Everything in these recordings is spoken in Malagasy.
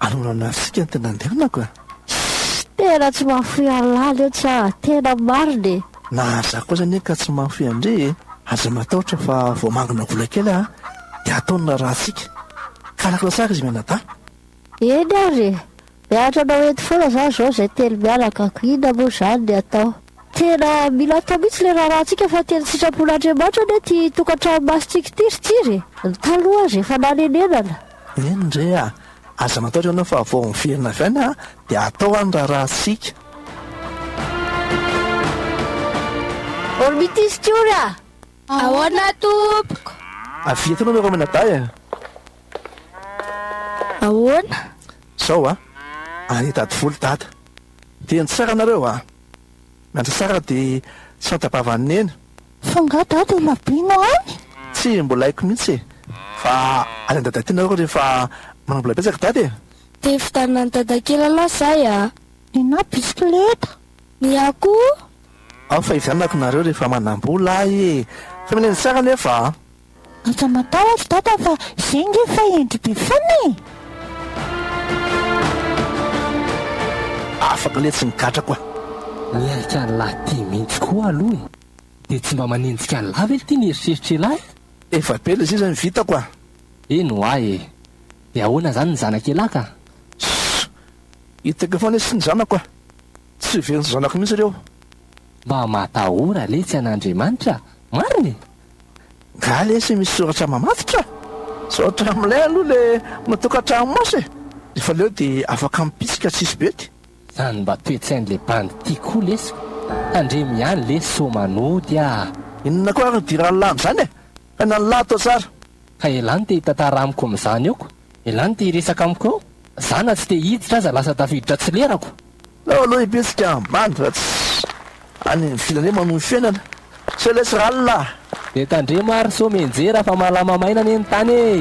Aleo ranarisika no tena andehanako e! Shh! Tena tsy mahafoy an'i Lala io tsa! Tena marina e! Na za koa aza anie ka tsy mahafoy an-dry e! Aza matahotra fa vao mangina vola kely aho dia ataony ny rahantsika. Karakara tsara izy mianadahy. Eny ary e! Miaritra anao eto foana za zao zay telo mianaka. Inona moa zany ny atao? Tena mila atao mihitsy le raharahantsika fa tena sitrapon'Andriamanitra anie ty tokantrano masintsika ity ry Tsiry e! Ny taloha aza efa nanenenana. Eny re a! Aza matahotra ianao fa vao miverina avy any dia hatao any raharahantsika. Ormity sy Tiory a! Ahoana tompoko? Avia eto ianao miarahaba an'i Dadah e! Ahoana? Zao a! Ary i Dadivolo Dadah. Dia ny sara nareo a! Miandry sara dia tsy fanta-bavan'i Neny. Fa nga dada ela be no any? Tsy mbola haiko mihitsy e! Fa any an-dada aty nareo rehefa manam-bola betsaka dada e! Te hividianana an'i dadakely aloha zahay a! Nenaha bisikileta! Ny ahy koa! Ao fa hividianako nareo rehefa manam-bola ahy e! Fa mila ny sara anefa a! Aza matahotra dada fa zay nge efa hendry be fona e! Afaka le tsy migadrako a! Miaika an'lah ty mintsy koa aloha e! De tsy mba manenjika an'lah ve ty ny eritreritr'elah e! Efa be le sisa ny vitako a! Eny hoa e! De ahoana zany ny zanak'elah ka? Sss! Hitako eo foana lesy ny zanako a! Tsy heverin'ny zanako mintsy reo! Mba matahora letsy an'Andriamanitra marina e! Nga lesy misy soratra mamatotra? Sao hatramilay aloha le matokatrano maso e! Nefa leo de afaka mipitsika tsisy bety. Zany mba toetsain le bandy ty ko lesy ka! Tandremo ihany lesy sao manody ah! Inona koa ary dirany lany zany e! Aina ny lahy atao tsara. Ka elany te hitantara amiko amin'izany eo ko, elany te hiresaka amiko eo, za na tsy te hiditra aza lasa tafiditra tsy lerako. Aleo aleo hipetraka ambany raha tsy any ny filany hoe manohy fiainana. Se laisse r'Allah. Dia tandremo ary sao mianjera fa malama maina anie ny tany e!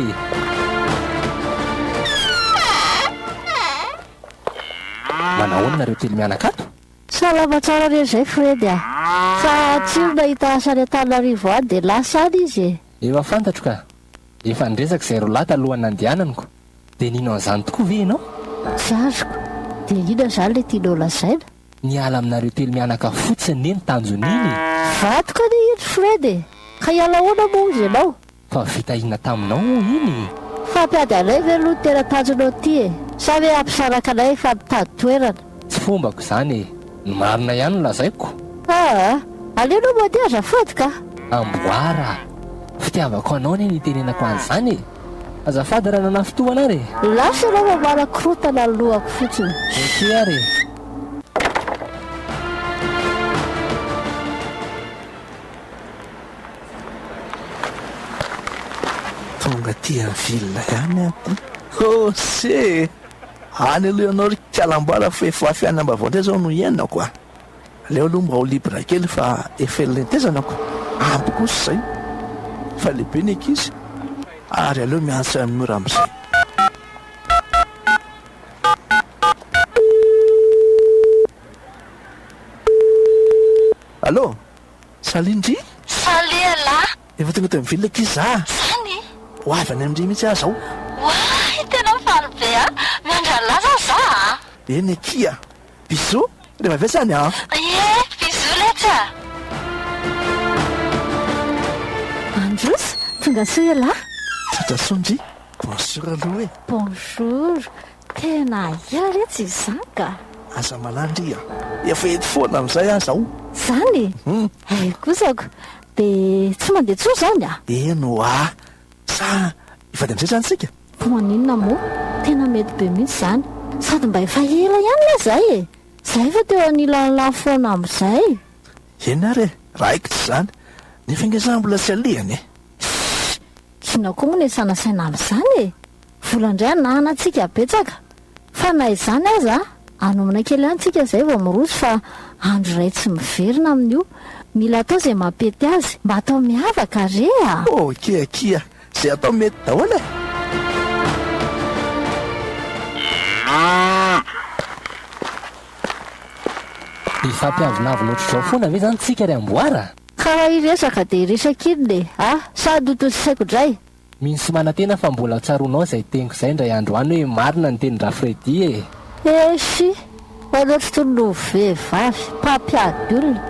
Manahoana nareo telo mianakato? Salama tsara re zay Fredy a! Fa tsy io nahita sarin'Antananarivo any dia lasa any izy e! Efa fantatro ka! Efa niresaka izay roalahy talohan'ny nandehananiko. Dia nino an'izany tokoa ve ianao? Tsy azoko. Dia inona izany ilay tianao lazaina? Ny hiala aminareo telo mianaka fotsiny anie ny tanjon'iny e! Vadiko anie iny Fred e! Ka hiala ahoana moa hozy ianao? Fa vita inona taminao moa iny e? Fampiady anay ve aloha no tena tanjonao ity e? Sa ve hampisaraka anay fa mitady toerana? Tsy fombako izany e! Ny marina ihany no lazaiko. Aa! Aleo aloha mody azafady ka! Amboara a! Fitiavako anao anie no itenenako an'izany e! Azafady raha nanafy toa anao re! Lasa ianao mamaly korontana ny lohako fotsiny. Ok ary e! Tonga aty amin'ny ville ihany aho ty! Ose! Any aloha ianao ry kala amboara fa efa fiainana vaovao indray izao no iainako a! Aleo aloha mba ho libre kely fa efa ela nitetezanako, ampy kosa izay fa lehibe ny ankizy ary aleo miantsa an'i Nora amin'izay. Allô! Salut ndry! Salut anah! Efa tonga teo amin'ny ville akia za a! Zany e! Ho avy any amin-dry mihitsy aho zao. Oay! Tena faly be a! Miandry an'lah zao za a! Eny akia a! Bisous! Rehefa avy eo zany an! Ie! Bisous letsy a! Androso! Tonga soa ialahy! Tonga soa ndry! Bonjour aloha e! Bonjour! Tena aia re tsy izany ka. Aza malala ry a! Efa eto foana amin'izay aza aho. Zany? Hay kosa ko! De tsy mandeha intsony zany a? Eny hoa! Sa hivady amizay zany tsika? Maninona moa? Tena mety be mihitsy zany! Sady mba efa ela ihany nga zay e! Za efa teo anilan'lah foana amizay! Eny ary e! Raikitra zany! Nefa nga za mbola tsy alehany e! Shh! Inona koa moa no iasana saina amizany e! Vola indray anahanantsika betsaka fa na izany aza anomana kely any tsika izay vao miroso fa andro iray tsy miverina amin'io. Mila atao izay mampety azy. Mba atao miavaka re a! Ok akia, izay atao mety daholo e! Hifampiavonavona ohatr'izao foana ve izany tsika ry amboara? Karaha hiresaka dia hiresaka inona e? Ah! Sady ho tosisaiko dray. Mino sy manantena fa mbola tsaroanao izay teniko izay indray andro any hoe marina ny tenin-dRafredy e! Eshi! Ho anao tsy tony ho vehivavy, mpampiady olona.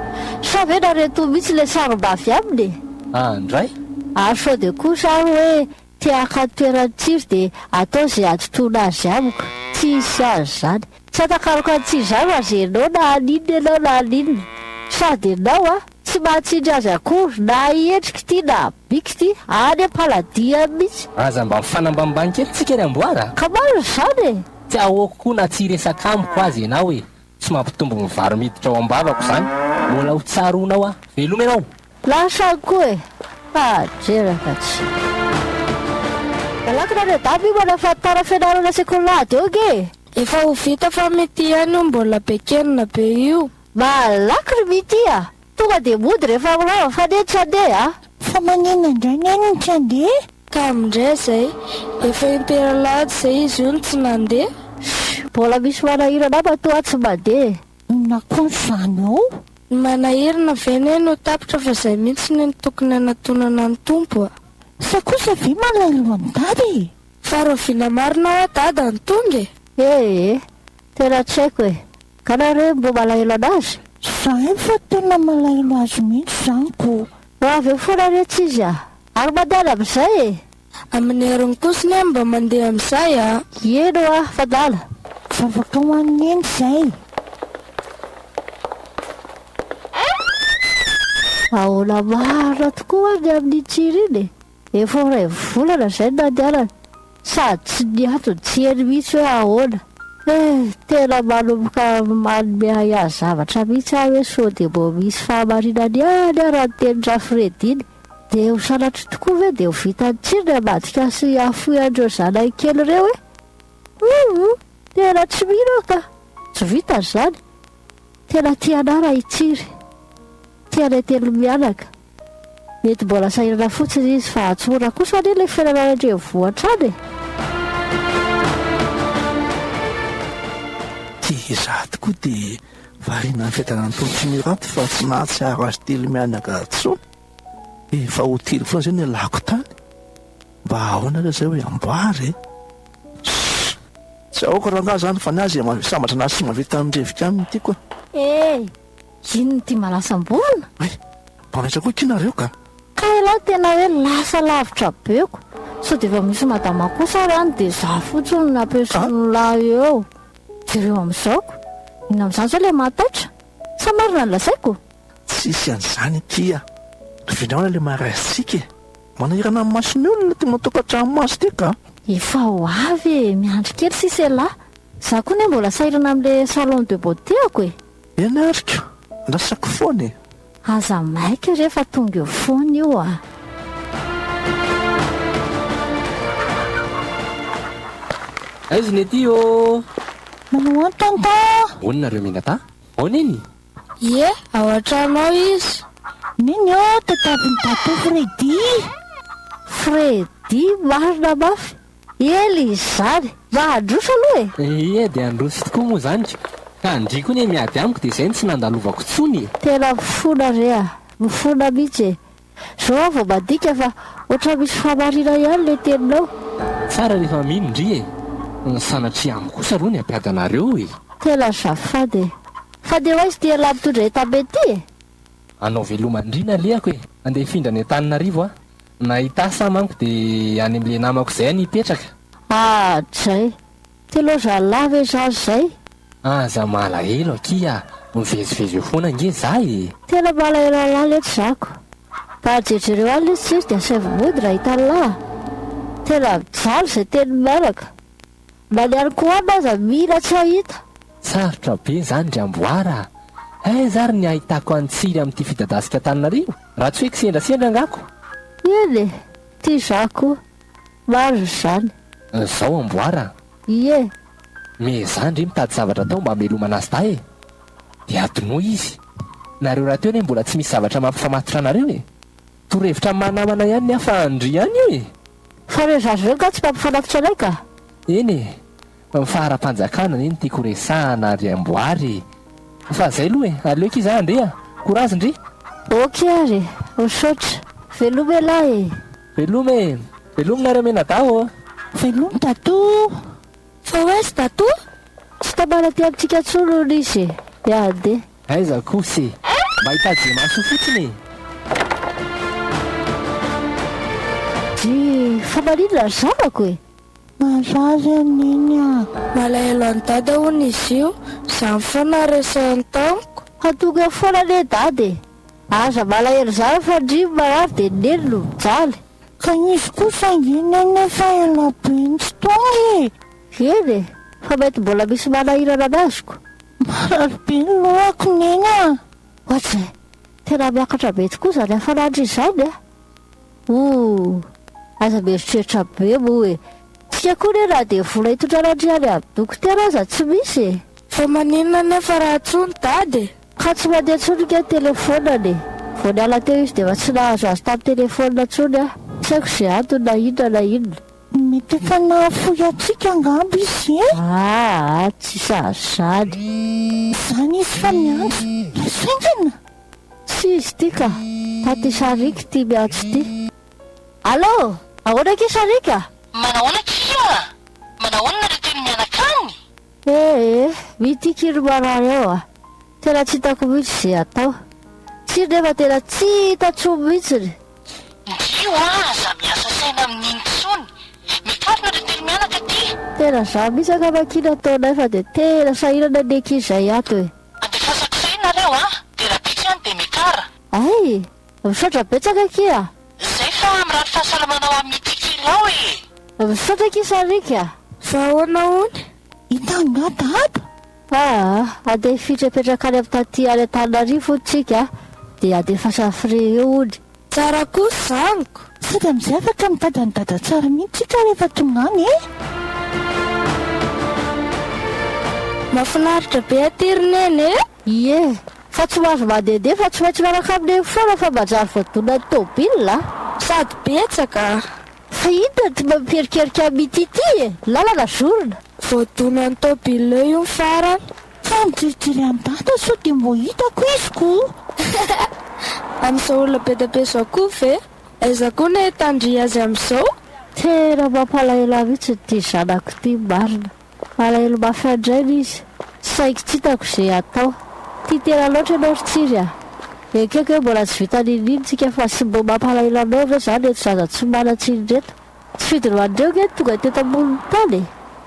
Sa ve narentoa mihitsy ilay sarom-ba avy aminy e? Ah, ndray? Ary sao dia koa izaho hoe te-haka ny toeran'i Tsiry dia atao izay hadotoana azy amiko. Tsy hisy azy izany. Tsy atakaroka ny tsy zara azy ianao na haninona ianao na haninona. Sady ianao a! Tsy mahatsindry azy akory na ahy endrika ity na bika ity, any am-paladiany mihitsy. Aza mba mifanambanimbany kely tsika ry amboara a! Ka marina izany e! Tsy ahoako koa na tsy hiresaka amiko aza ianao e! Tsy mampitombo ny vary miditra ao am-bavako izany. Mbola ho tsaroanao aho. Veloma ianao! Lasa any koa e! Ha! jeraka tsy. Mialakina anie dama io manao fahataran'ny fianarana sekoly lahady eo ange e! Efa ho vita fa mity ihany io mbola be kenina be io. Malaky ry Mity a! Tonga dia mody rehefa mirava fa neny tsy handeha a! Fa maninona indray neny no tsy handeha? Ka amindray izay. Efa impera lahady izay izy io no tsy nandeha. Shh! Mbola misy manahirana matoa tsy mandeha e! Inona koa izany ao? Ny manahirana ve anie no tapitra fa izay mihitsy no tokony hanatonana ny Tompo a! Sa kosa ve malahelo an'i Dada e! Fa rahoviana marina hoa dada no tonga e? Ee, tena tsy haiko e. Ka nareo re mbo malahelo anazy? Za efa tena malahelo azy mihitsy zany ko. Ho avy eo foana re tsy izy a! Ary mandeha any amin'izay e! Amin'ny heriny kosa anie mba mandeha amin'izay a! Eny hoa, fandala! Vavaka ho an'i Neny izay! Ahoana marina tokoa ny amin'iny tsiro iny e? Efa ho iray volana izay no nandehanany sady tsy niantony tsy heno mihitsy hoe ahoana. Hee, tena manomboka manome ahiahy zavatra mihitsy aho hoe sao dia mbola misy fahamarinany ihany ara ny tenin-dRafredy iny. Dia ho sanatria tokoa ve dia ho vitan'i Tsiry ny ambadika sy hahafoy an'ireo zanany kely ireo e? Huumm, tena tsy mino aho ka! Tsy vitany izany. Tena tia anà raha i Tsiry. Tia anay telo mianaka. Mety mbola sahirana fotsiny izy fa atsorina kosa anie ilay fiainana any an-drenivohitra any e! Izaho tokoa dia variana amin'ny fiadanan'ny tolotry ny rato fa tsy mahatsiaro azy telo mianaka intsony. Efa ho telo foana izay no ialako tany. Mba ahoana ary izay hoe amboara e? Sssss! Tsy ahoako rangahy izany fa ny azy sambatra na simba vita amin'ny rivoka aminy ity koa. Ee! Inn ity malasamborona? Hay! Balaitra koa ity nareo ka! Ka elah tena hoe lasa lavitra be ko! Sao dia efa misy madama kosa ary any dia za fotsiny no aperson'lah eo? Jereo amin'izao ko! Inona amin'izany izao ilay mahataitra? Sa marina ny lazaiko? Tsisy an'izany aty a! Ravinao raha ilay maharaisitsika e! Manahirana ny mason'ny olona ity matokan-tranomaso ity ka! Efa ho avy e! Miandry kely sisa elah! Za koa anie mbola sahirana amin'ilay salon de beauté-ako e! Ianariko, andrasako foana e! Aza maika re fa tonga eo foana io a! Aiza ny aty ô? Manao an tonton! Ahoana nareo Minata? Ao Neny? Ie, ao an-trano ao izy. Neny ô, tadiavin'i Dato Freddy! Freddy marina mafy! Ela izy zany. Mba handroso aloha e! Ehe dia handroso tokoa moa zany ka! Ka an-dry koa anie miady amiko dia zay no tsy nandalovako tsony e! Tena mifona re a! Mifona mihitsy e! Zao aho vao mandika fa ohatran'ny misy fahamariana ihany le teninao. Tsara rehefa mino ndry e! Sanatria amiko kosa aloha ny hampiady anareo e! Tena azafady e! Fa dia ho aiza ity elah mitondra entana be ity e! Anao veloma ndry nalehako e! Andeha hifindra any Antananarivo aho. Na i Tasy aho manko dia any amin'ilay namako izay aho nipetraka. Ah Jay! Telo zalahy ve zary izay? Aza malahelo akia ah! Mivezivezy eo foana ange za e! Tena malahelo an'lah letsy za ko! Mba jerjereo any letsy tsisy dia saivo mody raha hitan'lah ah! Tena mijaly izay teny mailaka! Na ny an'i Koama aza mila tsy hahita. Sarotra be izany ry amboara a! Aiza ary ny hahitako an'i Tsiry amin'ity fidadasika Antananarivo raha tsy hoe kisendrasendra angaha ko! Eny e! Tia izaho koa! Marina izany! Izao amboara a! Ie! Miezaha ndry mitady zavatra atao mba hamelomana azy dahy e! Dia adinoy izy! Nareo rahateo anie mbola tsy misy zavatra mampifamatotra anareo e! Torohevitra mahanamana ihany ny ahy fa an-dry ihany e! Fa ireo zaza ireo angaha tsy mba mifanatitra anay ka! Eny e! Ny faharam-panjakana anie no tiako ho resahana ry amboary e! Fa zay aloha e! Aleoko iza handeha! Courage ndry! Ok ary e! Misaotra! Veloma elah e! Veloma e! Veloma nareo mianadahy ô! Veloma Dadoo! Fa hoes datoa tsy tamana aty amintsika intsony hono izy e! Dia handeha. Aiza kos e! Mba hitaje-maso fotsiny e! Drii, fa maninona ry zanako e! Marary an Neny a! Malahelo an'i Dada hono izy io, izany foana resahiny tamiko. Hatonga foana anie Dada e! Aza malahelo izany fa ndrii marary dia Neny no mijaly. Ka nisy kosa ange neny fa ela be ntsy tonga e! Eny e! Fa mety mbola misy manahirana ny azoko. Marary be ny lohako neny a! Ohatry izay! Tena miakatra be tokoa izany hafanandro izany a! Ooh! Aza mieritreritra be moa e! Tsika koa neny na dia vola hitondran'Andriany amin'ny dokotera aza tsy misy e! Fa maninona anefa raha tsoa ny dada e? Ka tsy mandeha intsony ny ke telefonany e! Vao niala teo izy dia efa tsy nahazo azy tamin'ny telefonina intsony aho. Tsy haiko izay antony na inona na inona. Mety efa nahafoy antsika angamba izy e! Aa tsy sahaza izany. Izany izy fa miandry. Lasa haingana? Tsy izy ity ka! Taty Saric ity miantso ity. Allo! Ahoana kay Saric a! Manahoana tsia a! Manahoana nareo teo ny mianakany? Eh eh io ity kiry marary ao a! Tena tsy hitako mihitsy ze atao! Tsiry nefa tena tsy hita tsony mihitsiny! Ndio a aza miasa saina amin'iny tsony! Mikarina ry telo mianaka ty! Tena za mihitsy angamba ky nataonay fa dia tena sahirana anie ky zay ato e! Andefasako saina nareo a! Dia raha tiako ihany dia mekara! Ay! Misaotra betsaka akia a! Izay fa mirary fahasalamana ho amin'ny Titilao e! Misaotra akia Sariky a! Fa ahoana hono? I Tanga dada? Aa, handefiitra hipetraka any amin'ny taty any Antananarivo hono tsika dia handefasa frais eo hono. Tsara kosa zaniko. Sady amizay afaka mitady an'i dada tsara mihitsy tsika rehefa tonga any e! Mafinaritra be aty ry neny e! Ie, fa tsy ho azo mandehandeha fa tsy maintsy miaraka amin'ireny foana fa manjary voadonan'ny tômôbila a! Sady betsaka a! Fa inona ty mba miperikerika amin'ity ity e! Lalana zorona! Voadonan'ny tômôbila eo io ny farany. Fa mikilikily an'i Dada sao dia mbo hitako izy kou! Amin'izao olona be dia be zao kou ve? Aiza kou no ahitandry azy amin'izao? Tena mampalahelo ahy mihitsy ity zanako ity marina. Alahelo mafy andraina izy, saingy tsy hitako ze atao. Tia tena loatra ianao ry Tsiry a! Ekeko hoe mbola tsy vita niniany tsika fa tsy mbo mampalahelo anao ve zany reto zaza tsy manan-tsiny reto? Tsy fidorohan'ireo nge no tonga teto ambonin'ny tany e!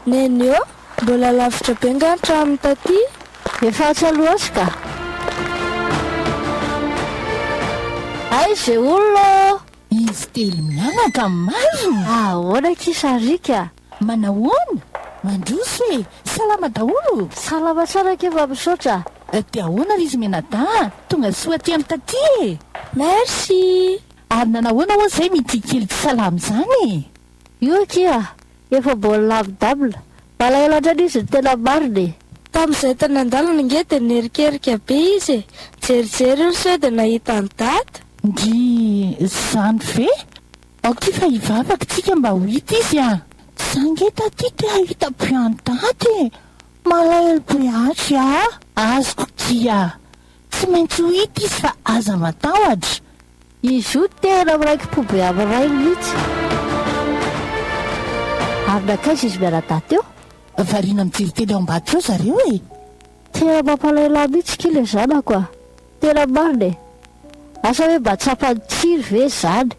Neny ô! Mbola lavitra be nga ny tranony taty? Efa atsy aloha atsy ka! Hay ze olona ô! Izy telo mianaka marina! Ahoana kisa Rick a! Manahoana? Mandroso e! Salama daholo o! Salama tsara kee fa misaotra. Dia ahoana ry Zmenada a! Tonga soa aty amin'ny taty e! Merci! Ary nanahoana ho'a izay mitia kely tsy salama izany e! Io akia a! Efa mbola lavidavina. Malahelo hatrany izy ny tena marina e! Tamin'izay tany an-dalana ange dia niherikerika be izy e! Nijerijery io sao dia nahita an'i Dada. Ndrii! Izany ve? Aoka fa hivavaka tsika mba ho hita izy a! Za nge taty te hahita be an'i Dada e! Malahelo be hatry aa! Azoko kia! Tsy maintsy ho hita izy fa aza matahotra! Izy io tena miraiki-po be amin'ny rainy mihitsy. Ary nankaiza izy mianadahy teo? Variana mijery tele ao ambadika ao zareo e! Tena mampalahelo ahy mihitsy ki le zanako a! Tena marina e! Asa hoe mba tsapan'i Tsiry ve izany?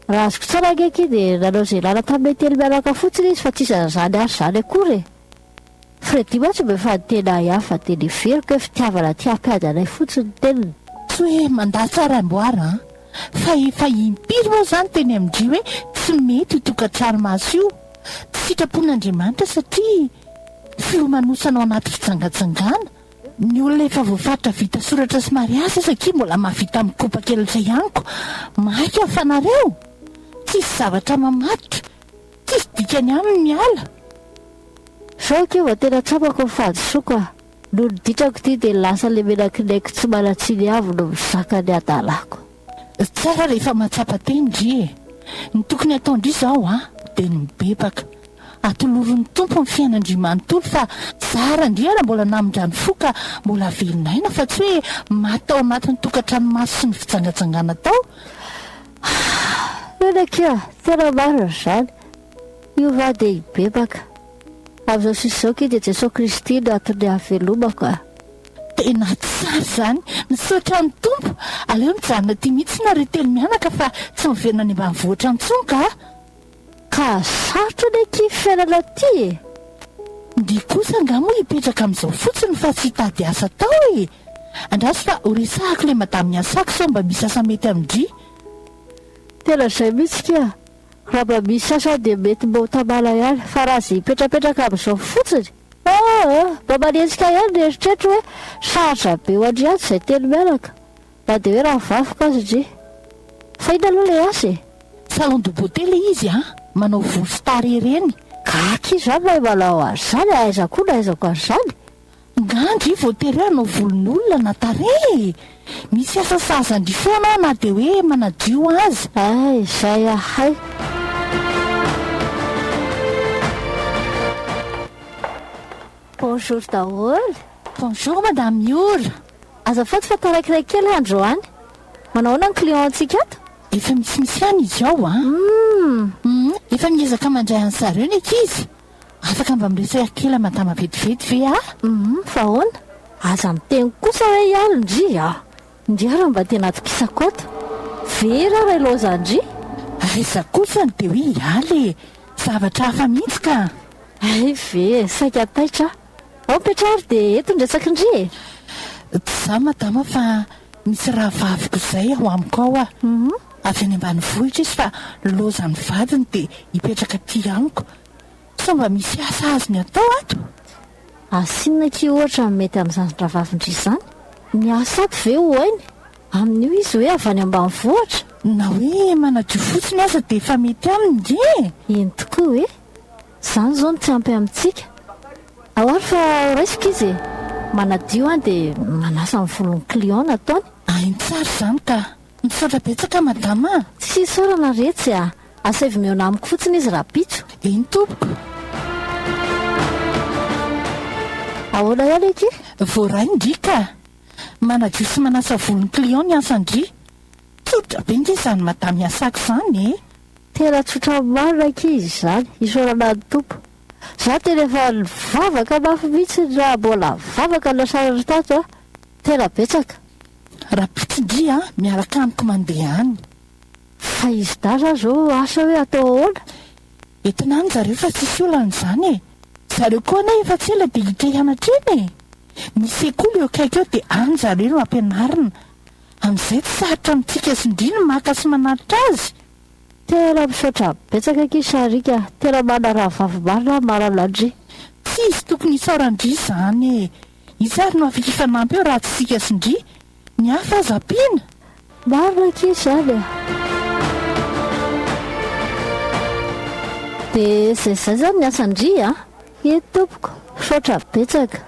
Raha azoko tsara ange akia dia nanao izay ilana tamin'ny metely mianaka fotsiny izy fa tsy isan'ny izany ary izany akory e! Freddy mantsy mba efa niteny ahy hafa dia neveriko hoe fitiavana aty hampiady anay fotsiny ny teniny. Tsy hoe mandà tsara amboara an! Fa efa impiry moa izany teny amin-dry hoe tsy mety io tokantrano maso io? Tsy sitrapon'Andriamanitra satria filomanosana ao anaty fijangajangana Ny olona efa voafaritra vita soratra sy mariazy aza akia mbola mahavita mikopa kelotra ihany ko maika aho fa nareo tsisy zavatra mamatotra tsisy dikany aminy ny ala. Sao ke vao tena tsapako ny fahadisoako ah! Nony ditrako ity dia lasa le menakinaiko tsy manan-tsiny avy no mizaka ny adalako. Tsara rehefa mahatsapa teny ndry e! Ny tokony atao ndry izao an, dia ny mibebaka. Atoloron'ny Tompo ny fiainandry manontolo fa tsara ndry ara mbola namindrany fo ka mbola velona aina fa tsy hoe maty tao anatin'ny tokantrano maso sy ny fijangajangana tao ah! Eny akia, tena marina izany. Hiova dia hibebaka. Amin'izao sisa izao akia dia Jesoa Kristy no antony ahavelomako ah! Tena tsara izany. Misaotra ny Tompo. Aleo mijanona aty mihitsy nareo telo mianaka fa tsy miverina any ambanivohitra intsony ka. Ka sarotra ny akia fiainana aty e! Ndry kosa angaha moa hipetraka amin'izao fotsiny fa tsy hitady asa atao e! Andraso fa ho resahako ilay madamin'i Asako sao mba misy asa mety amin-dry. Tena izay mihitsy kia. Raha mba misy asa dia mety mba ho tamana ihany fa raha aza hipetrapetraka amin'izao fotsiny. Aa! Mba manenjika ihany ny eritreritro hoe sarotra be ho an-dry atsy izay telo mianaka, na dia hoe rano vafoka aza ndry. Fa inona aloha ilay asa e? Salon de beauté ilay izy an! Manao volo sy tarehy ireny. Ka akia izany mahay manao an'izany e! Aiza koa no ahaizako an'izany? Nga ndry vao tery hoe hanao volon'olona na tarehy e! Misy asa sahazan-dry foana aho na dia hoe manadio aza. Ay, izay ahay. Bonjour daholo. Bonjour Madame Miora. Azafady fa tarakiray kely androany. Manao ahoana ny client-ntsika ato? Efa misimisy ihany izy ao an. Hum. Hum, efa miezaka mandray an'i zareo ny ankizy. Afaka mba miresaka kely aman-tama vetivety ve ah? Humm fa ahoana? Aza miteny kosa hoe ialo ndry ah! Ndry ary mba tena atokisako ato. Very aho raha ilaozan'ny ndry. Aiza kosa no dia hoe iala e! Zavatra hafa mihitsy ka! Hay ve e! Saika taitra aho. Ao Petra ary dia eto ny resaky ndry e! Tsy za madama fa misy rahavaviko izay ao amiko ao a! avy any ambanivohitra izy fa loza ny vadiny dia hipetraka aty amiko. Sao mba misy asa azony atao ato? Asa inona akia ohatra no mety amin'izany rahavavin-dry izany? Ny asa ato ve ho hainy? Amin'io izy hoe avy any ambanivohitra? Na hoe manadio fotsiny aza dia efa mety aminy ndry e! Eny tokoa e! Izany izao no tsy ampy amintsika. Ao ary fa raisiko izy e! Manadio an dia manasa ny volon'ny client nataony. Hainy tsara izany ka! Misaotra betsaka madama a! Tsy isaorana re tsy a! Asaivo mihaona amiko fotsiny izy rahampitso. Eny tompoko. Ahoana ihany ange? Voaray ndry ka! Manadio sy manasa volon'ny client ny asan-dry. Tsotra be nge izany madama iasako izany e! Tena tsotra marina ankizy izany, isaorana ny Tompo. Za tena efa nivavaka mafy mihitsy raha mbola vavaka ny nasaran'i Tato a! Tena betsaka. Rapotsindry a, miaraka amiko mandeha any. Fa izy dahy zany zao asa hoe atao ahoana? Entina any zareo fa tsisy olana izany e! Zareo koa anie efa tsy ela dia hiditra hianatra eny e! Misy sekoly eo akaiky eo dia any zareo no ampianarina. Amin'izay tsy sarotra amintsika sy ndry ny maka sy manatitra azy. Tena misaotra betsaka akia Sharika a! Tena manaraha vavy marina aho marina ndry. Tsy izy tokony hitsaora an-dry izany e! Iza ary no afaka hifanampy eo raha tsy isika sy ndry? Ny hafa aza ampiana! Marina akia izany a! Dia izay izay izany ny asan-dry a! Eny tompoko, misaotra betsaka.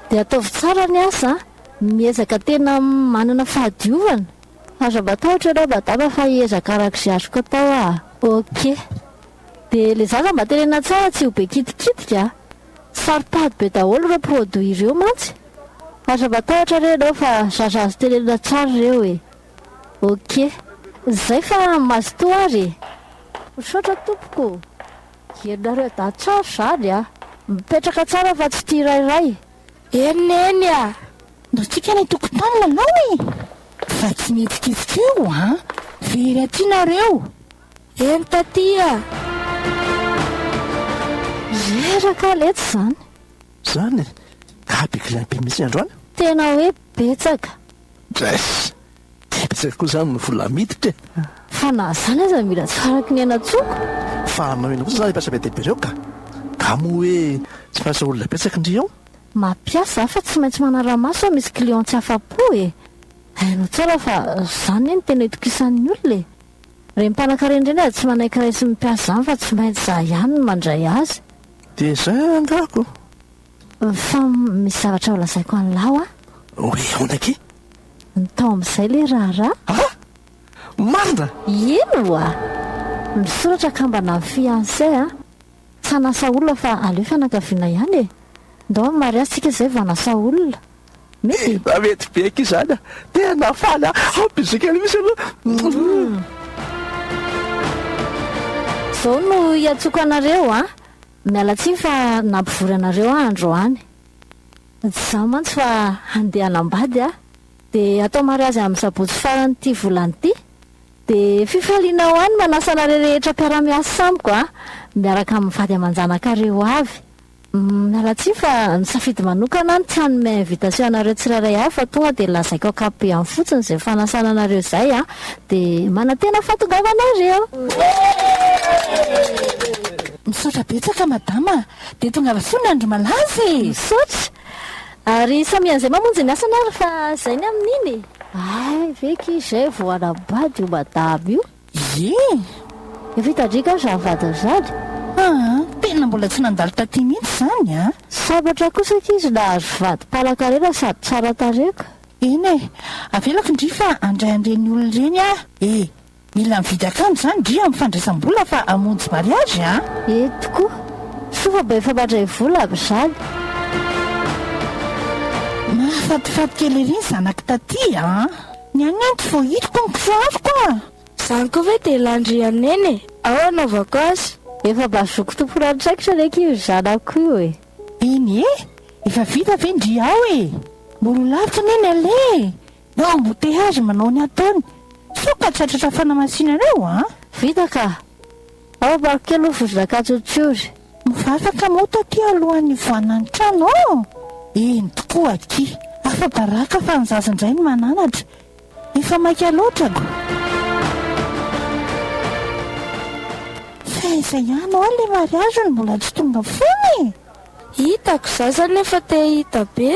Dia ataovy tsara ny asa a! Miezaka tena manana fahadiovana. Aza matahotra ianao madama fa hiezaka araka izay azoko atao aho. Ok. Dia ilay zaza mba tenena tsara tsy ho be kitikitika a! Saro-pady be daholo ireo produits ireo mantsy. Aza matahotra re ianao fa zaza azo tenenina tsara ireo e! Ok. Izay fa mazotoa ary e! Misaotra tompoko. Henonareo dahy tsara izany a! Mipetraka tsara fa tsy tia rairay. Eny neny a! Mikitika ny tokotany ianao e! Fa tsy mihetsiketsika eo an! Very aty nareo! Eny taty a! Reraka letsy izany! Izany e! Abikolabe mihitsy androany! Tena hoe betsaka! Drais! Betsaka koa izany ny vola miditra e! Fa na izany aza mila tsy faraky ny aina tsoko. Fa hanao inona kosa izany ireo mpiasa be dia be ireo ka! Nga moa hoe tsy mampiasa olona betsaka ndry eo? Mampiasa aho fa tsy maintsy manara-maso aho misy clients tsy afa-po e! Hainao tsara fa izany anie no tena itokisan'ny olona e! Ireny mpanankarena ireny aza tsy manaiky raisin'ny mpiasa izany fa tsy maintsy izaho ihany no mandray azy. Dia izay angako! Fa misy zavatra holazaiko an'lah hoa. Hoe ahoana akia? Ny tao amin'izay ilay raharaha. Ha! Marina? Eny hoa! Misoratra ka mba na fiancé a! Tsy hanasa olona fa aleo fianakaviana ihany e! Ndao amin'ny mariazy tsika izay vao hanasa olona. Mety? Efa mety be akia izany a! Tena faly a! Ao bisous kely misy aloha. Zao no hiantsoako anareo a! Miala tsiny fa nampivory anareo aho androany. Tsy za mantsy fa handeha hanambady aho. Dia hatao mariazy amin'ny sabotsy faran'ity volana ity. Dia fifaliana ho ahy ny manasa anareo rehetra mpiara-miasa amiko a! Miaraka amin'ny vady aman-janakareo ho avy. Miala tsiny fa nisafidy manokana aho ny tsy hanome invitation anareo tsirairay avy fa tonga dia lazaiko ankapobeny fotsiny izay fanasana anareo izay aho. Dia manantena fahatongavanareo. Misaotra betsaka madama a! Dia tongava soa ny andro malaza e! Misaotra! Ary samia an'izay mamonjy ny asany ary fa izay ny amin'iny e! Hay ve akia izay vao hanambady io madama io? Ie! Efa hita driaka aho izany vadiny izany! Aa! Tena mbola tsy nandalo taty mihitsy izany a! Sambatra kosa akia izy nahazo vady mpanakarena sady tsara tarehy ka! Eny e! Avelako ndry fa handray an'ireny olona ireny aho e! Mila mividy akanjo zany dry amin'ny fandraisam-bola fa hamonjy mariage an! Eny tokoa! Soa fa mba efa mandray vola amin'izany! Mahafatifaty kely ery ny zanako taty an! Ny an'i Neny tsy vao hitako ny kisoaroko an! Zany koa ve dia lany-dry an'i Neny e! Ao anaovako azy! Efa mba zoky tompon'antraikitra re akia io zanako io e! Eny e! Efa vita ve ndry ao e! Mora ho lavitra anie ny aller e! Ny ao embouteillages manao ny ataony. Sao ka tratratra fanamasinana eo an! Vita ka! Ao Barquet aloha vao zaka tsotsory. Mivavaka moa taty alohan'ny hivoahana ny trano ô! Eny tokoa aky! Afa-baraka fa ny zaza indray no mananatra. Efa maika loatra ko! Fa aiza ihany ho'a ilay mariage no mbola tsy tonga foana e! Hitako, zaza nefa te hahita be.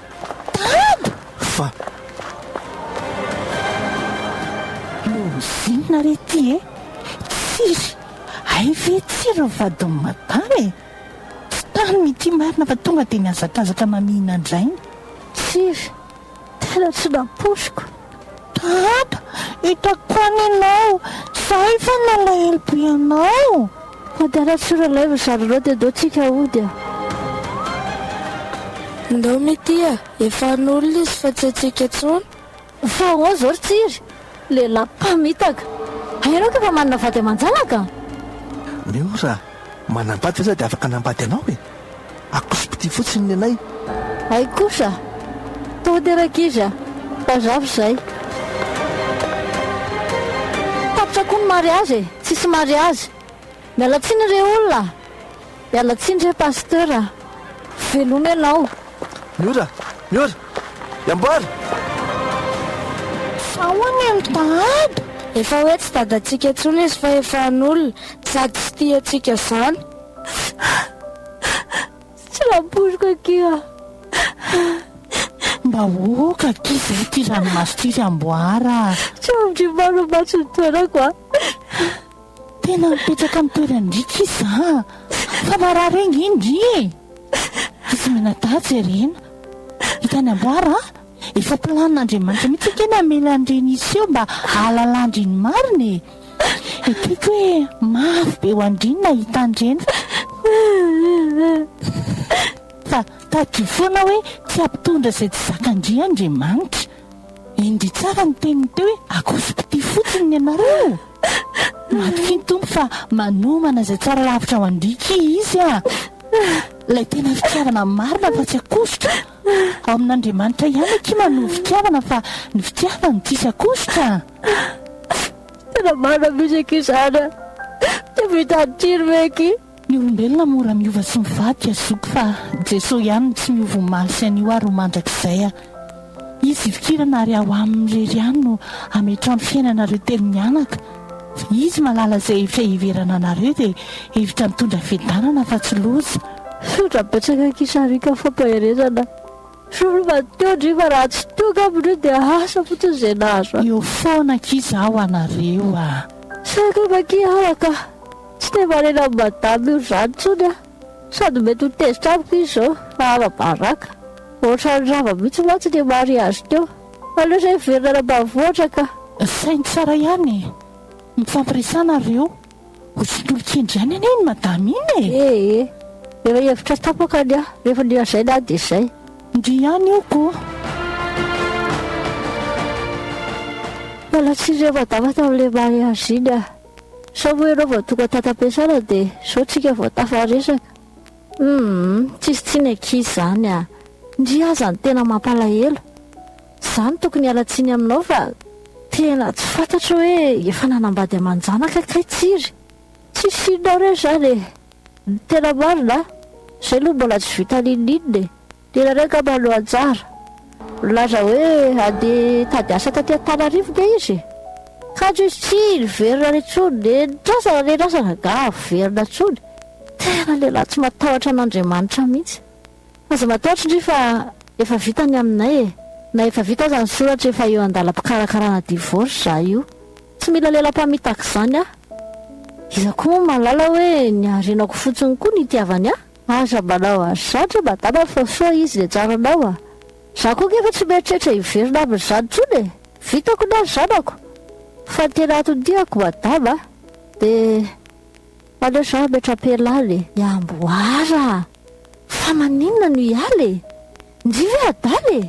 Tana! Fa. Lozinina re ity e! Tsiry! Hay ve tsiry ny vadin'i Madama e! Tsy taniny ity marina fa tonga dia mihazakazaka mamihina an-drainy. Tsiry! Tena tsy nampoiziko! Dada, hitako tany ianao, za efa nalahelo be anao. Hody ara tsy relève zary ireo dia ndao tsika hody a. Ndao mitia a, efa an'olona izy fa tsy antsika intsony. Fa ahoana izao ry Tsiry, lehilahy mpamitaka. Hay ianao ka efa manana vady aman-janaka? Miora, manambady ve za dia afaka hanambady anao e. Akosipitia fotsiny ny anay. Hay kosa! Tody ery ankizy a! Bazavy izay. Tapitra koa ny mariazy e! Tsisy mariazy. Miala tsiny re olona a! Miala tsiny re Pasteur a! Veloma ianao. Miora! Miora! Iamboary! Fa hono i Mtahaba? Efa hoe tsy dadantsika intsony izy fa efa an'olona, sady tsy tia antsika izany. Tsaboiko akia a! Mba aoka akia izay ity ranomaso ity ry Amboara a! Tsabotr'i Maro mantsy ny toerako a! Tena mipetraka amin'ny toeran-dry akia za a! Fa marary ange ndry e! Izy Minadaha jerena. Hitan'i Amboara a! Efa planin'Andriamanitra mihitsy ange ny hamela an'ireny hiseho mba hahalalàndry ny marina e. Ekeko hoe mafy be ho an-dry ny nahita an'ireny fa fa tadidio foana hoe tsy hampitondra izay tsy zakan-dry Andriamanitra. Endrey tsara ny teniny teo hoe akoso-pitia fotsiny ny anareo. Matokia ny Tompo fa manomana izay tsara lavitra ho an-dry ki Izy a! Ilay tena fitiavana marina fa tsy akosotra. Ao amin'Andriamanitra ihany akia ma no fitiavana fa ny fitiavany tsisy akosotra a! Tena marina mihintsy akia izany a! Tsy vita atsiro ve akia? Ny olombelona mora miova sy mivadika zoky fa Jesoa ihany no tsy miova omaly sy anio ary ho mandrakizay a! Izy ifikirana ary ao aminy irery ihany no ametrao ny fiainanareo telo mianaka. Izy malala zay efa hiverana anareo de hevitra mitondra fiadanana fa tsy loza. Sotra betsaka kisarika fampaherezana sory madio ndry fa raha tsy tonga amindreo dia asa fotsiny zay nahazo ahy. Eo foana akia zaho anareo a. Saika makia aho ka. Tsy te marena am madame io zany tsony ah. Sady mety ho tezitra amiko izy izao fa ara-baraka. Ohatran'ny rava mihitsy mantsy ilay mariazy teo. Aleo izay hiverina any ambanivohitra ka. Saino tsara ihany e! Mifampiresana ry reo. Ho sintolikendry ihany anie iny madama iny e! Ee ee. Efa hevitra tapaka ny ahy. Rehefa ny lazainy aho dia izay. Ndry ihany io ko! Mbola tsy re madama tamin'ilay mariazy iny aho. Sao moa ianao vao tonga tato am-piasana dia izao tsika vao tafaresaka. Humm, tsisy tsiny ankizy izany a! Ndry aza ny tena mampalahelo. Za no tokony hiala tsiny aminao fa tena tsy fantatro hoe efa nanambady aman-janaka kay tsiry. Tsisy tsininao re izany e! Ny tena marina a! Izay aloha mbola tsy vita n'inon'inona e! Tena reo angamba no anjara. Milaza hoe handeha hitady asa taty Antananarivo nge izy e! Kanjo izy tsy niverina any intsony, nenitrazana nenitrazana angaha haverina intsony? Tena lehilahy tsy matahotra an'Andriamanitra mihitsy. Aza matahotra ndry fa efa vita ny aminay e! Na efa vita aza ny soratra efa eo an-dalam-pikarakarana divorce za io. Tsy mila lela-pamitaka izany aho. Iza koa moa mahalala hoe ny harenako fotsiny koa no itiavany ahy? Aza manao azy zany re madama fa sao izy le tsara anao a! Za koa nge efa tsy mieritreritra hiverina aminy zany tsony e! Vitako na ry zanako! Fa ny tena antony tiako madama a! de aleo za hametra-pela any e! I Amboara a! Fa maninona no hiala e! Ndry ve adala e!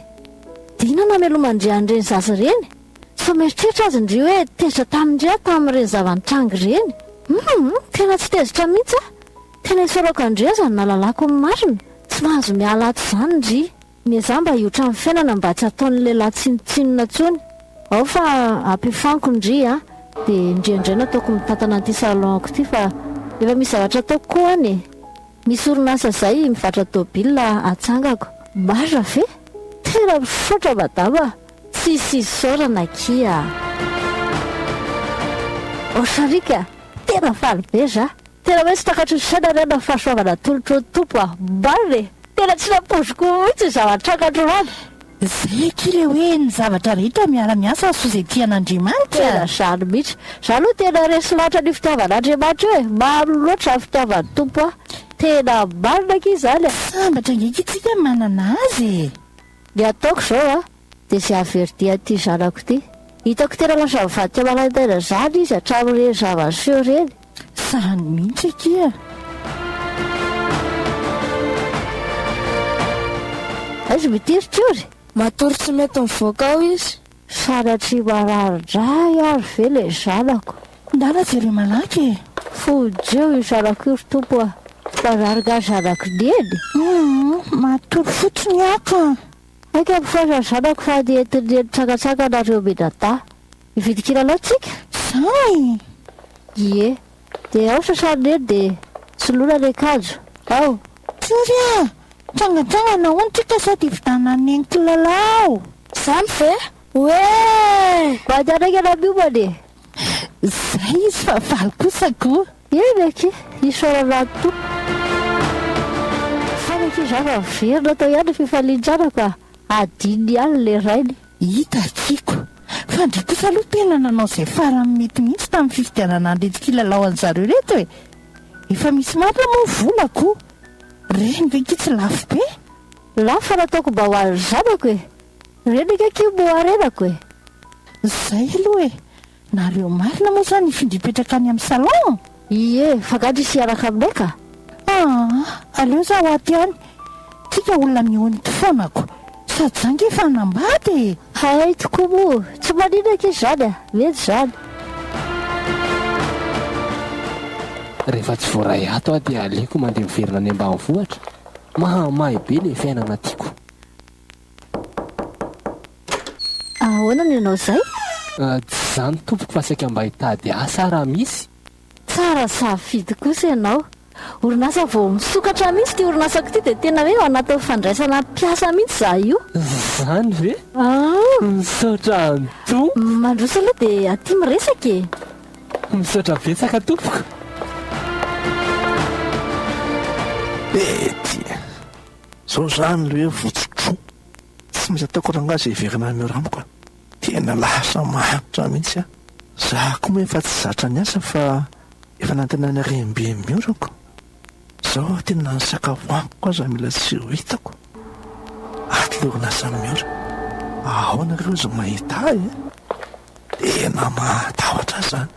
Dina namelomandry an'ireny zaza ireny! Sao mieritreritra azy ndry hoe tezitra tamindry aho tamin'ireny zava-nitranga ireny! Humm! Tena tsy tezitra mihitsy aho! Tena isaorako an-dry aza no nahalalako ny marina, tsy mahazo miala ato izany ndry. Miezaha mba hiotra ny fiainana mba tsy ataon'ny lehilahy tsinontsinona intsony ao fa ampefaniko ndry a! dia ndry indray nataoko mitantana an'ity salon-ko ity fa efa misy zavatra ataoko koa any e! misy orinasa izay mivarotra tôbila atsangako. Marina ve? Tena misaotra madama a! Tsisy isaorana akia a! Ô sariaka a! Tena faly be za! Tena hoe tsy takatro ny saina ary aho na fahasoavana atolotro ny Tompo aho. Marina e! Tena tsy nampoiziko mihitsy izao an-trakatrro any. Zay akia le hoe ny zavatra rehetra miara miasa hahasoa izay tian'Andriamanitra. Tena zany mihitsy. Za aloha tena resy loatra an'io fitiavan'Andriamanitra io e! Maro loatra zany fitiavan'ny Tompo ahy. Tena marina akia izany a! Sambatra ange akia tsika manana Azy e! Ny ataoko zao a! Dia zay averti an'ity zanako ity. Hitako tena lasa mivadika maraim-baina zany izy hatramin'ireny zava-niseho ireny. Zany mihitsy akia! Aiza moa ity ry Tiory? Matory tsy mety mivoaka ao izy. Sanatria marary indray ary ve ilay zanako? Ndana jere malaky e! Fonjeo io zanako io ry Tompo a! Marary nga zanako neny? Humm! Matory fotsiny aho ka! Aika misaotra ny zanako fa ny entiny ny eny tsakatsaka nareo Minada. Hividy kilalao tsika? Zay! Ie. De ao sasany neny de soloina ny akanjo. Ao. Sorry a! Mitsangantsangana hono tsika sady hividanany neny kilalao. Zany ve? Oee! Mba andehanaiky ana miomana e! Zay izy fa valy kosa ko! Eny akia! Isaorana an'i Tompo. Fany akia za fa miverina tao ihany ny fifalintsanako a! Adino ihany ilay rainy. Hita akiako. Fa ndry kosa aloha tena nanao izay farany mety mihitsy tamin'ny fifidianana an'ireto kilalao an'zareo ireto e! Efa misy marina moa ny volako. Reny ve akia tsy lafo be? Lafo fa nataoko mba ho an'ny zanako e! Reny akia akia moa renako e! Zay aloha e! Nareo marina moa zany ifindra hipetraka any am salon? Ie, fa gadra izy hiaraka aminay ka! Aah, aleo za ho aty any, tsika olona mihony ty fônako, sady za nge efa hanambady e! Hay tokoa moa, tsy manina akia zany a! Mety zany. Rehefa tsy voaray ato aho dia aleoko mandeha miverina any ambanivohitra, mahamay be le fiainana tiako. Ahoana no ianao izay? Tsy izany tompoko fa saika mba hitady asa aho raha misy. Tsara safidy kosa ianao. Orinasa vao misokatra mihitsy ity orinasako ity dia tena hoe ao anatin'ny fandraisana mpiasa mihitsy izaho io. Izany ve? Misaotra tompoko. Mandroso aloha dia aty miresaka e. Misaotra betsaka tompoko. Betty. Zao zany le hoe votso dro. Tsy misy ataoko rangahy zay hiverina any Orambo ka. Tena lasa mahantra mihitsy aho. Za koa moa efa tsy zatra niasa fa efa nantenaina rembe ny orako. Zao aty na ny sakafo haniko aza mila tsy ho hitako. Ato le orinasa miora. Ahoana re ozy mahita ahy e? Tena mahatahotra zany.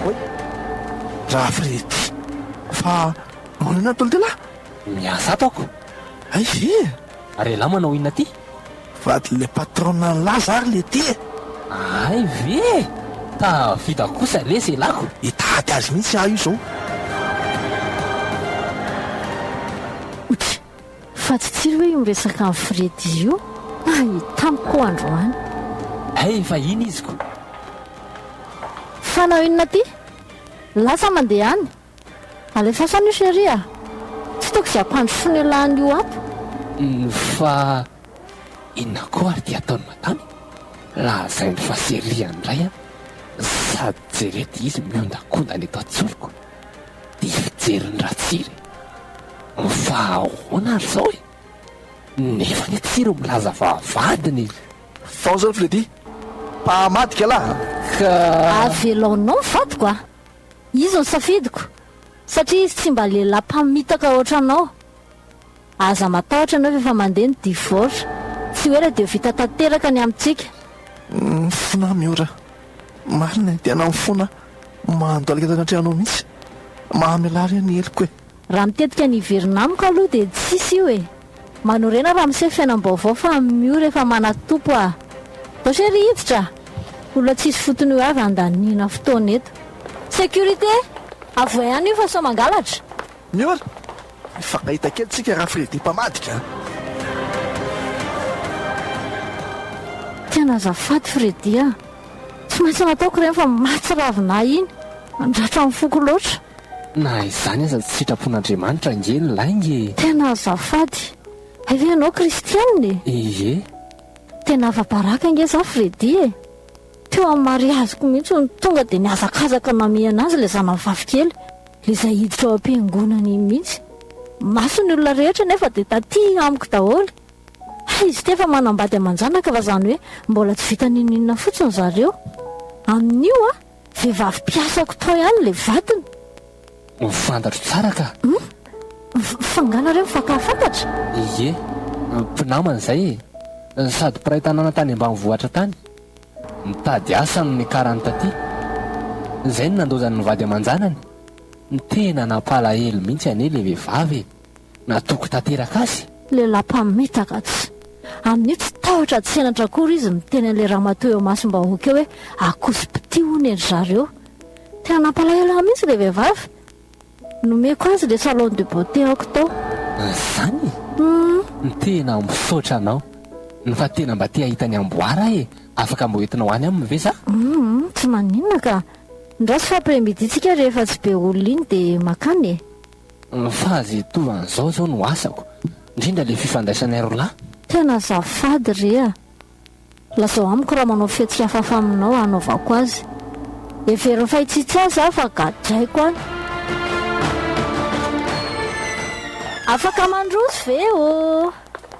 Oy! Ra Fredy! Fa maninona ny tolotelahy? Miasa ato ako! Aiza e? Ary ialahy manao inona aty? Vadin'ilay patronne an'lah zary le ty e! Ahay ve e! Tafita kosa le selako! Hitady azy mihitsy aho io zao! Fa tsy tsilo hoe io resaka an'i Freddy io ah hitam ko androany. Hay efa iny izy ko. Fanao inona ty? Lasa mandeha any? Alefaso any io chérie a! Tsy tokony ampandrosoana io lahany io ato. Fa inona koa ary ty ataony madame e? Lazainy fa chérie any indray an! Sady jereo ty izy miondakondana eto an-tsoroko. Dia hijery ny Ratsiry ho fahaona ary zao e! Nefa ny Tsiry milaza fa vadiny e! Vao zao Freddy, mpahamadika lahy a! Ka. Avelaonao vadiko a! Izy no safidiko, satria izy tsy mba lehilahy mpamitaka ohatranao, Aza matahotra anao efa mandeha ny divorce. Tsy ho ela dia ho vita tanteraka ny amintsika. Mifona aho Miora. Marina e, tena mifona aho. Mandalika tany an-trano ao mihitsy. Mahamelà re ny heloko e. Raha mitetika ny hiverina amiko aloha dia tsisy io e. Manorena raha miseho fiainam-baovao fa amin'i Miora efa manatompo aho. Zao se ry hiditra a! Olona tsisy fotony io avy handaniana fotoana eto. Sécurité! Avohay any io fa sao mangalatra. Miora! Mifankahita kely tsika ra Freddy mpamadika a! Tena azafady Freddy a! Tsy maintsy nataoko ireny fa maty ravinah iny! Mandratra ny foko loatra! Na izany aza tsy sitrapon'Andriamanitra ange ny lainga e! Tena azafady! Hay ve ianao kristianina e? Ie! Tena afa-baraka ange za Freddy e! Teo amin'ny mariaziko mihitsy hono, tonga dia nihazakazaka namihana azy ilay zanany vavikely, ilay izay hiditra ao am-piangonana iny mihitsy. Maso ny olona rehetra anefa dia taty amiko daholo. Hay izy ity efa manambady aman-janaka fa izany hoe mbola tsy vita n'inon'inona fotsiny zareo. Amin'io, vehivavy mpiasako tao ihany ilay vadiny. Ho fantatro tsara ka! Humm! Fa angaha nareo mifankahafantatra? Ie, mpinamana izay e! Sady mpiray tanàna tany ambanivohitra tany. Nitady asa no nikarany taty. Izay no nandaozany ny vady aman-janany. Tena nampalahelo mihitsy anie ilay vehivavy e! natoky tanteraka azy. Lehilahy mpamitaka atsy. Amin'io tsy tahotra tsy henatra akory izy miteny an'ilay ramatoa eo imasom-bahoaka eo hoe akoso-pitia hono ry zareo. Tena nampalahelo ahy mihitsy ilay vehivavy. Nomeko azy ilay salon de beauté aoko tao. Izany? Humm. Tena misaotra anao. Ny fa tena mba te hahita ny amboara aho e. Afaka mba hoentinao any aminy ve za? Humm, tsy maninona ka. Ny ratsy fa après midi tsika rehefa tsy be olona iny dia makany e. Ny fahaviatovan zao zao no asako, ndrindra le fifandraisanay rolahy. Tena azafady re a! Lazao amiko raha manao fihetsika hafahafa aminao hanaovako azy. Heveriny fa hitsitsy ahy za fa gadraiko any. Afaka mandroso ve ô?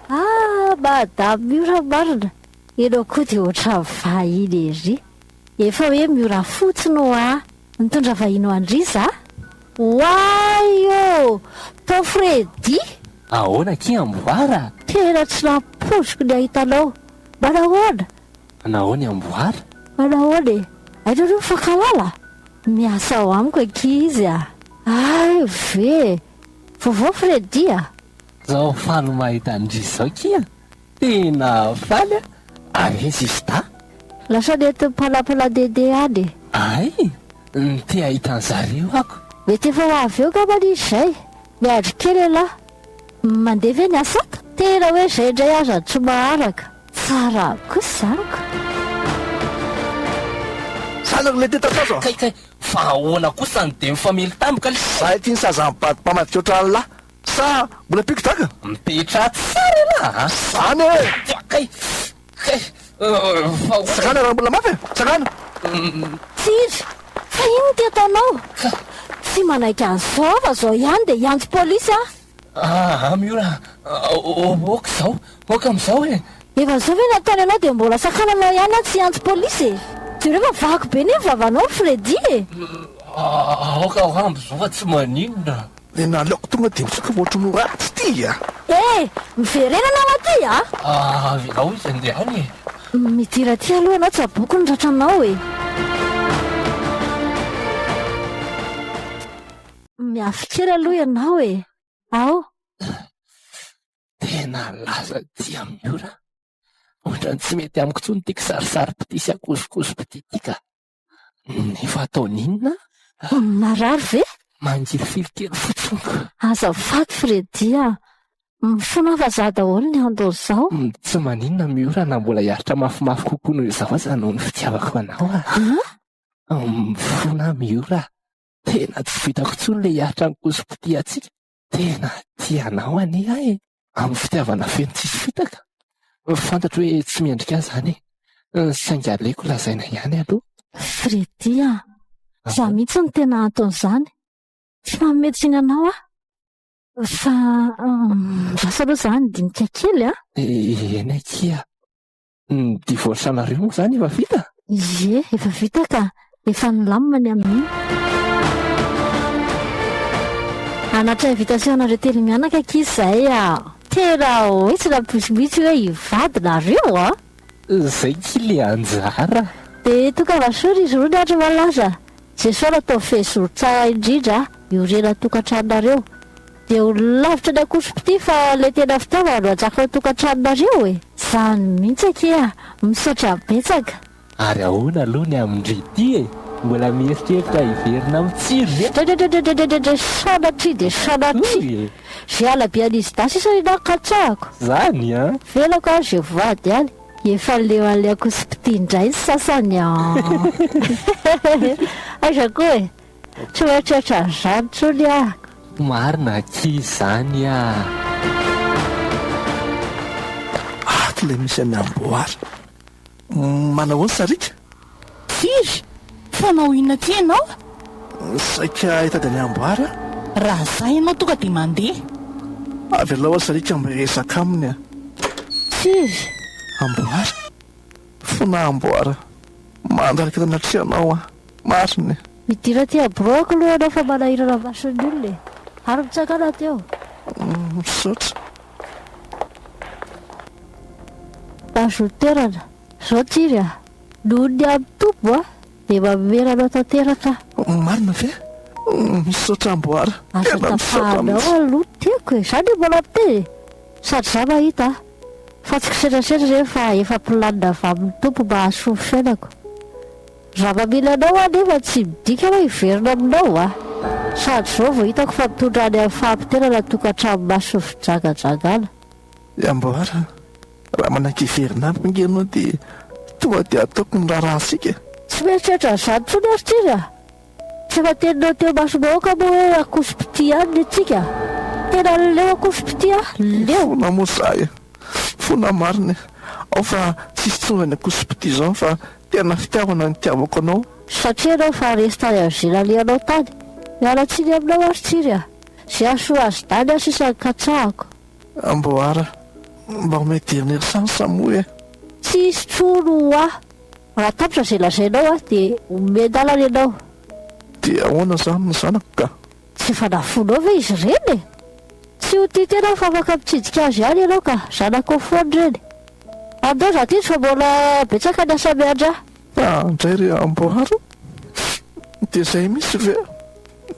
Ah madame Miora marina, ianao koa dia ohatran'ny vahiny ery. Efa hoe Miora fotsiny hoa. Nitondra vahiny ho an-dry za. Oay ô! Tao Freddy! Ahoana akia Amboara? Tena tsy nampoiziko ny hahita anao. Manahoana? Manahoana i Amboara? Manahoana e? Hainao re mifankahalala? Miasa ao amiko akia izy a! Hay ve! Vaovao Freddy a! Zao faly mahita an-dry zao kia! Tena faly a! Ary ve sista? Lasa nentin'ny mpanapana Dede any e! Ay! ny te hahita an'zareo ako! Mety efa ho avy eo ngambany izy zay! Miandry kely elah! Mandeha ve ny asat? Tena hoe zay ndray aza no tsy maharaka! Tsara kosa amiko! Saza no mety hita tsazo a! Kay kay! Fa ahoana kosa ny dia mifamely tampoka le! Zahay tia ny saza mibado mpamadika ohatran'lah! Sa mbola mpiko daka? Mipetraha tsara ialahy a! Zany e! Fa kay! Kay! Fa hoy. Sakana raha mbola mafy e! Sakana! Tsiry! Fa inona ity ataonao? Ka. Tsy manaiky an'izao fa izao ihany dia hiantso polisy aho! Aa Miora a! Oka izao! Oka amin'izao e! Efa izao ve no ataony ianao dia mbola sakana anao ihany aho tsy hiantso polisy e! Jereo fa vaky be ny vavanao ry Freddy e! Aoka ho amby izao fa tsy maninona! Dia naleoko tonga dia mitsoka fa ohatran'ny ho ratsy ity a! Eh! Miverenana ao aty a! Ah, avelao izy handeha any e! Midira aty aloha ianao tsaboiko ny ratranao e! Miafy kely aloha ianao e! Ao! Tena lasa aty amin'ny ora! Ohatran'ny tsy mety amiko intsony ity kisarisary-pitia sy ankozokozo-pitia ity ka! Efa taona inona? Narary ve? Mangirifily kely fotsiny. Azafady Freddy a! Mifona vazaha daholo ny andao izao. Tsy maninona Miora na mbola hiaritra mafimafy kokoa noho izao aza noho ny fitiavako anao a! Mifona aho Miora a! Tena tsy vitako intsony ilay hiaritra ny kosom-pitia antsika. Tena tia anao anie aho e! Amin'ny fitiavana feno tsisy fitaka. Fantatro hoe tsy mendrika ahy izany e! Saingy aleoko lazaina ihany aloha. Freddy a! Izaho mihitsy no tena anton'izany. Tsy manome tsiny anao aho. Fa miasa aloha izaho handinika kely an! Eny akia! Ny divorce anareo moa izany efa vita? Ie, efa vita ka. Efa nilamina ny amin'iny. Hanatitra invitation anareo telo mianaka akia izay aho. Tena hoe tsy nampoiziko mihitsy hoe hivady nareo an! Izay akia ilay anjara. Dia tokava soa ry Zorony ary malaza. Jesoa nataovy fehezoro tsara indrindra hiorena an-tokantranonareo. Dia ho lavitra ny akotropitia fa ilay tena fitaovana no atsakao ny tokantranonareo e! Zany mihitsy akia! Misaotra betsaka. Ary ahoana aloha ny amin-dry ity e? Mbola mieritreritra hiverina amin'ny tsiro ve? Dredredredredredredre sanatria dia sanatria! Zay halabe an'izy dahy sisa ny nahy katsahako! Zany an! Velako aho izay vady any! Efa leo an'ilay akotropitia indray ny sasany an! Aiza koa e! Tsy ho eritreritra an'izany intsony aho. Marina akia izany ah. Ato ilay misy an'i Amboara. Manao ahoana Sariaka? Firy? Mpanao inona aty ianao? Saika hitady an'i Amboara aho. Raha izaho ianao tonga dia mandeha. Avelao aho Sariaka mba hiresaka aminy aho. Firy? Amboara. fona amboara mandraka natria anao an! Marina e! Midira aty abroako aloha ianao fa manahirana maso ny olona e! Ary mitsakana aty ao! Misaotra. Ajoter-na zao tsiry a! Noho ny amin tobo a! Dia mamera anao tanteraka aho. Marina ve? Misaotra amboara! Aza tapahanao aloha tiako e! Za ndry mbola miteny e! Sady za mahita a! Fa tsy kisetrasetra ireny fa efa planina avy amin'ny Tompo mba hahasoa ny fiainako. Raha mamela anao aho anefa tsy midika hoe hiverina aminao aho. Sady izao vao hitako fa mitondra any amin'ny fahapoteranà tokantrano masin'ny fijagajagana. Ry amboara, raha manaiky hiverina amiko ange ianao dia tonga dia ataoko ny raharahantsika. Tsy mieritreritra an'izany intsony ary Tira. Tsy voateninao teo imasom-bahoaka moa hoe akoso-pitia ihany ny antsika? Tena leo akoso-pitia ah! Leo! Mifona moa izahay e! Mifona marina e! Ao fa tsisy tsony izany akoso-pitia izany fa tena fitiavana no itiavako anao. Satria ianao efa resy tany amin'ny izay nalehanao tany. Miala tsiny aminao aho ry Tsiry a! Izay hahasoa azy dany aho sisa no katsahako. Amboara, mba omeo dernière chance moa e! Tsisy tsony ho ahy! Raha tapitra izay lazainao aho dia omen-dalana ianao. Dia ahoana izany ny zanako ka? Tsy efa nafoinao ve izy ireny e? Tsy ho tia tena aho fa afaka mitsidika azy ihany ianao ka, zanakao foana ireny. Andao izaho tetsy fa mbola betsaka ny asa miandry ahy. Andray ry amboara, dia izay mihitsy ve?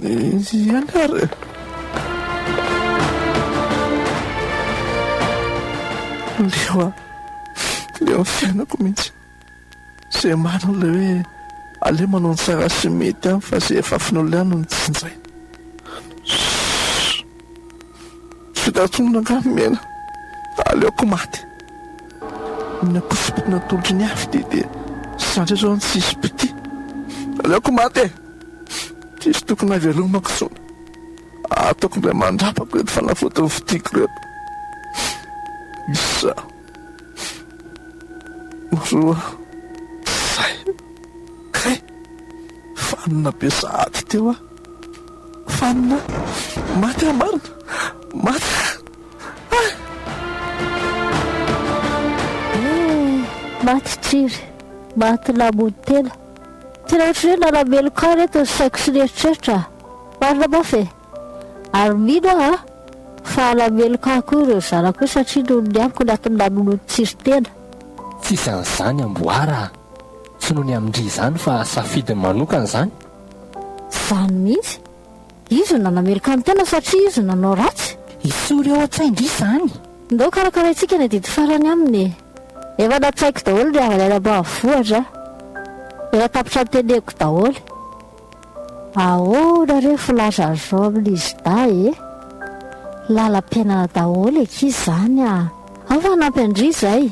Ianareo leo an, leo ny fiainako mihitsy izay manana ilay hoe aleo manao ny tsara sy ny mety an fa izay efa afen'olona ihany no jinjaina. Tsy tantsoina angaha ny mena? Aleoko maty. Ny akosompiko natolotry ny afo dia dia zatra izao ny tsisy mpitia. Aleoko maty e! Tsisy tokony havelomako intsony. Ataoko indray mandrapako ireto fanafody novidiako ireto. Isa, roa, zay. Kay! Vanona be sahady teo aho. Fanina maty ry marina maty ah! Maty tsiry, maty namono tena. Tena ohatran'ny hoe nanameloka ahy ireto ny saiko sy ny eritreritra. Marina mafy e! Ary mino aho an, fa hanameloka ahy koa ireo zanako hoe satria noho ny amiko ny antony namonoany tsiry tena. Tsisy an'izany amboara a! Tsy noho ny amin-dry izany fa safidiny manokana izany. Zany mihitsy. Izy no nanameloka ny tena satria izy no nanao ratsy. Esory ao an-tsain-dry izany. Ndao karakaraintsika ny adidy farany aminy e. Efa natsaiko daholo ny havany any ambanivohitra a. Efa tapitra ny teneniko daholo. Ahoana re filaza an'izao amin'izy dahy e. Lalam-piainana daholo eky izany a. Ao fa hanampy an-dry izay.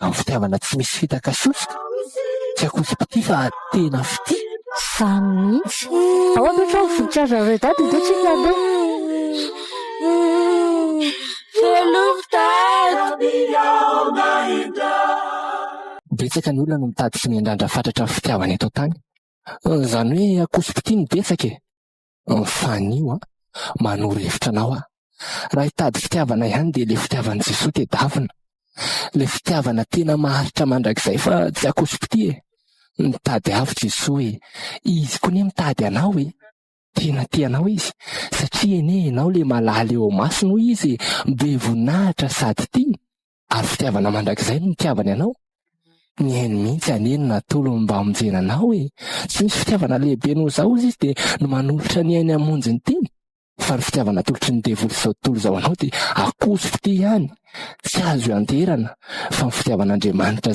amin'ny fitiavana tsy misy fitaka sosoka, tsy akosi-pitia fa tena fitia. Za mihitsy e! Ahoana ohatra ny voninkazonareo daty dia tsy fandeha? Betsaka ny olona no mitady sy miandrandra fatratra ny fitiavana eto an-tany. Izany hoe akosi-pitia no betsaka e! Mifanio an! Manoro hevitra anao aho. Raha hitady fitiavana ihany dia ilay fitiavan'i Jesoa tedavina. Ilay fitiavana tena maharitra mandrakizay fa tsy akoso-pitia e. Mitady ahy i Jesoa e. Izy koa anie mitady anao e. Tena tia anao Izy satria anie ianao ilay malala eo masony hoy Izy e. Be voninahitra sady tia. ary fitiavana mandrakizay no nitiavany anao. Ny hainy mihitsy anie no natolony mba hamonjena anao e. Tsy misy fitiavana lehibe noho izao hozy izy dia no manolotra ny hainy hamonjy ny tiany. Fa ny fitiavana atolotry ny devoly izao tontolo izao anao dia akoso fitia ihany, tsy azo ianteherana, fa ny fitiavan'Andriamanitra